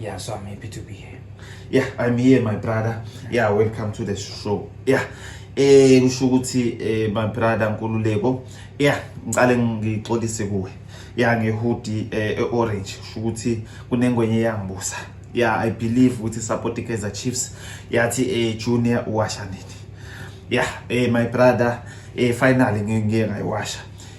Yeah, so I'm happy to be here. Yeah, I'm here my brother. Yeah, welcome to the show. Yeah. Eh kusho ukuthi eh my brother Nkululeko. Yeah, ngicale ngixolise kuwe. Yeah, ngehudi eh orange. Kusho ukuthi kunengwenye yangibusa. Yeah, I believe ukuthi support iKaizer Chiefs yathi eh junior uwasha nini. Yeah, eh my brother eh finally ngeke ngayiwasha.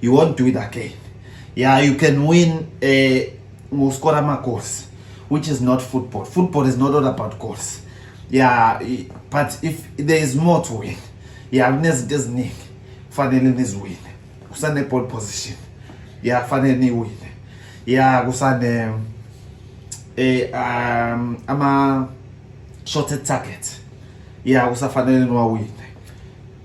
you won't do it again yeah you can win eh, ngoskora uh, ama-goals which is not football football is not all about goals yeah but if there is more to win yeah kunezinto eziningi kufanele niziwine kusane-ball position yeah kufanele niwine yeah kusane eh, um, ama-shorted target yeah kusafanele niwawine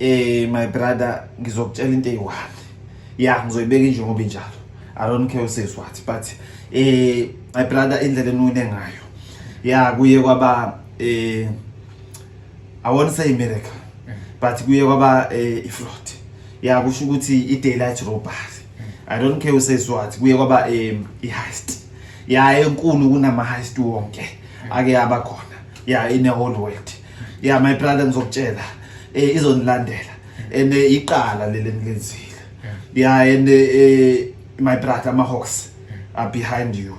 Eh my brother ngizokutshela into eyiwani. Yeah ngizoyibeka nje ngoba injalo. I don't care uses what but eh my brother indlela enune ngayo. Yeah kuye kwaba eh I won't say miracle but kuye kwaba eh, iflood. Yeah kusho ukuthi i daylight robbery. I don't care uses what kuye kwaba eh, i heist. Yeah enkulu kunama heist wonke ake abakhona. Yeah in the whole world. yeah my brother ngizokutshela eh izonilandela and eh, iqala leli engilenzile yeah and eh, eh my brother ama hawks are behind you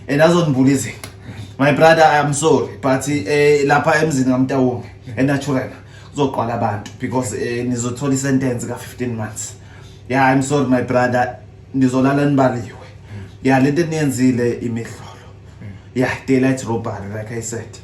and azonibula izinto my brother i am sorry but eh lapha emzini kamtawonge enaturena kuzoqwala abantu because eh nizothola isentence ka 15 months yeah i'm sorry my brother nizolala nibaliwe yeah lento eniyenzile imihlolo yeah daylight robbery like i said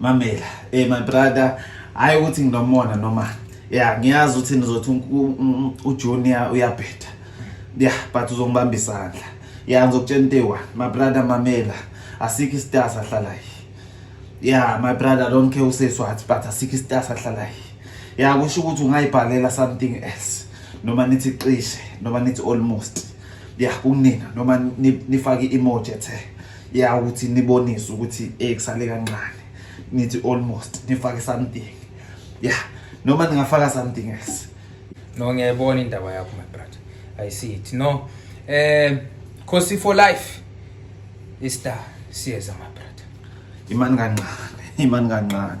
mamela eh my brother hayi ukuthi nginomona noma ya ngiyazi ukuthi nizothi ujunior uyabheda ya but uzongibamba isandla ya ngizokutshela into eyi-one my brother mamela asikho isitasa ahlalayo ya my brother don't care useswathi but asikho isitasa ahlalayo ya kusho ukuthi ungayibhalela something else noma nithi cishe noma nithi almost ya kunina noma nifake i-emoji ethe ya ukuthi nibonise ukuthi eh kusale kancane nithi almost nifake something ya noma ningafaka something else no ngiyayibona indaba yakho my brother i see it no eh khosi for life is star siyeza my brother imani kancane imani kancane